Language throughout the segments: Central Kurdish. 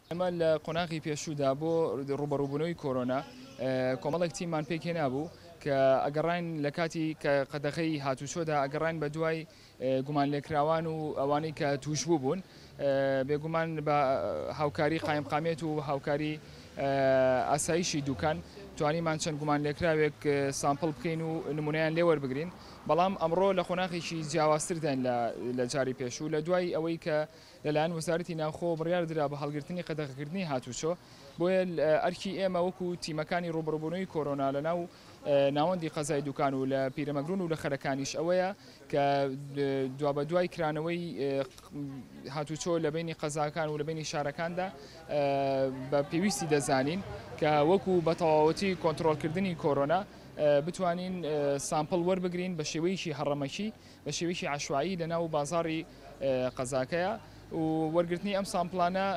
ئێمە لە قۆناغی پێشوودا بۆ ڕوبەڕووبوونەوەی کۆرۆنا کۆمەڵێک تیممان پێکێ نابوو کە ئەگەڕین لە کاتی کە قەدەخەی هاتوچۆدا ئەگەڕین بە دوای گومان لێکراوان و ئەوانەی کە توشبوو بوون بێگومان بە هاوکاری قایمقامێت و هاوکاری ئاسایشی دوکان توانیمان چەند گومان لێکراوێک سامپل بکەین و نمونیان لێوەربگرین بەڵام ئەمڕۆ لە قۆناخێکی جیاوازتردان لە جاری پێشوو لە دوای ئەوەی کە لەلایەن وەزارەتی ناوخۆ بڕیار درا بە هەڵگرتنی قەدەغەکردنی هاتوچۆ بۆیە ئەرکی ئێمە وەکو تیمەکانی ڕوبڕبوونەوەی کۆرۆنا لە ناو ناوەندی قەزای دوکان و لە پیرەمەگرون و لە خەرەکانیش ئەوەیە کە دوا بە دوای کرانەوەی هاتوچۆ لە بینی قەزاکان و لە بینی شارەکاندا بە پێویستی دەزانین کە وەکو بە تەواوەتی کۆنتترۆلکردنی کۆرۆنا بتوانین سامپڵ وەربگرین بە شێوەیەکی هەڕەمەکی بە شێوەیەکی عشوایی لە ناو بازاری قەزاکەیە و وەرگرتنی ئەم سامپلانە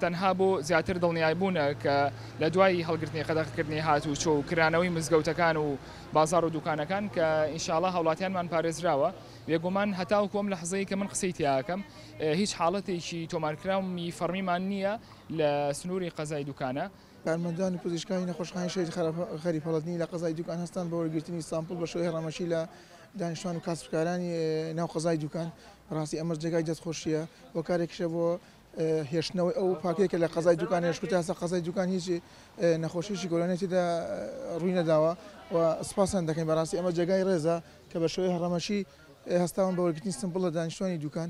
تەنها بۆ زیاتر دڵنیای بوونە کە لە دوای هەڵگرتنی قەدەخکردنی هات و چۆ و کرانەوەی مزگەوتەکان و بازار و دوکانەکان کە ئینشاالله هاوڵاتیانمان پارێزراوە بێگومان هەتاو کۆم لە حزەیە کە من قسەی تیاکەم هیچ حاڵەتێکی تۆمارکراومی فەرمیمان نییە لە سنووری قەزای دوکانە کارمەندان و پزیشکانی نەخۆشخانەی شەهید خەریف هەڵەدنی لە قەزای دوکان هەستان بە وەرگرتنی سامپڵ بە شێوەی هەڕەمەکی لە دانیشتوان و کاسبکارانی ناو قەزای دوکان بەڕاستی ئەمەش جێگای دەستخۆشیە و کارێکیشە بۆ هێشتنەوەی ئەو پاکێکە لە قەزای دوکان هێشت تاسە قەزای دوکان هیچ نەخۆشیی گۆرانێتیدا ڕووی نەداوە و سپاسان دەکەین بەڕاستی ئەمە جێگای ڕێزە کە بە شێوەی هەڕەمەکی هەستاون بە وەرگرتنی سمپڵ لە دانیشتوانی دوکان